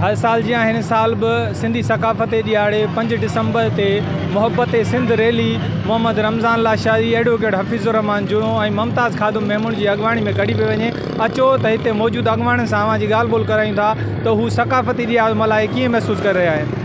هر سال جيان هن سال به سنڌي ثقافتي ڏهاڙي پنج ڊسمبر تي محبت سنڌ ريلي محمد رمضان لاشاري، ايڊووڪيٽ حفيظ الرحمان جوڻو ۽ ممتاز خادم ميمڻ جي اڳواڻي ۾ ڪڍي پئي وڃي، اچو ته هتي موجود اڳواڻن سان اوهان جي ڳالهه ٻولهه ڪرايون ٿا ته هو ثقافتي ڏهاڙو ملهائي ڪيئن محسوس ڪري رهيا آهن.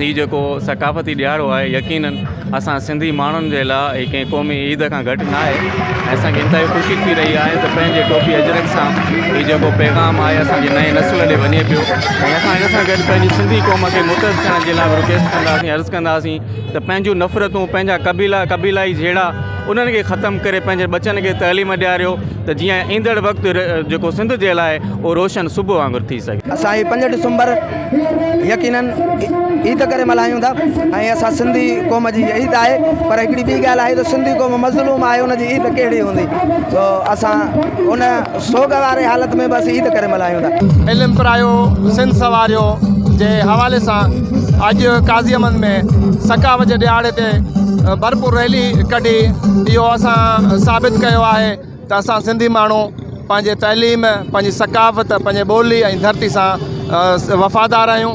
هي جيڪو ثقافتي ڏهاڙو آهي يقينن اسان سنڌي ماڻهن جي لاء هي ڪنهن قومي عيد کان گهٽ ناهي ۽ اسان کي انتهائي خوشي ٿي رهي آهي ته پنهنجي ٽوپي اجرڪ سان هي جيڪو پيغام آهي اسان جي نئين نسل ڏي وڃي پيو ۽ اسان ان سان گڏ پنهنجي سنڌي قوم کي متحد ڪرڻ جي لاء به رڪويسٽ ڪنداسين عرض ڪنداسين ته پنهنجون نفرتون پنهنجا قبيلا قبيلائي جهيڙا انهن کي ختم ڪري پنهنجن ٻچن کي تعليم ڏياريو ته جيئن ايندڙ وقت جيڪو سنڌ جي لاء اهو روشن صبح وانگر ٿي سگهي. اسان هي پنج ڊسمبر يقينن عيد ڪري ملهايون ٿا ۽ اسان سنڌي قوم جي عيد آهي پر هڪڙي ٻي ڳالهه آهي ته سنڌي قوم مظلوم آهي ان جي عيد ڪهڙي هوندي سو اسان ان سوگواري حالت ۾ به اسين عيد ڪري ملهايون ٿا. علم پرايو سنڌ سنواريو جي حوالي سان اڄ قاضي احمد ۾ ثقافت جي ڏهاڙي تي ڀرپور ريلي ڪڍي اهو اسان ثابت ڪيو آهي ته اسان سنڌي ماڻهو پنهنجي تعليم پنهنجي ثقافت پنهنجي ٻولي ۽ ڌرتي سان وفادار آهيون.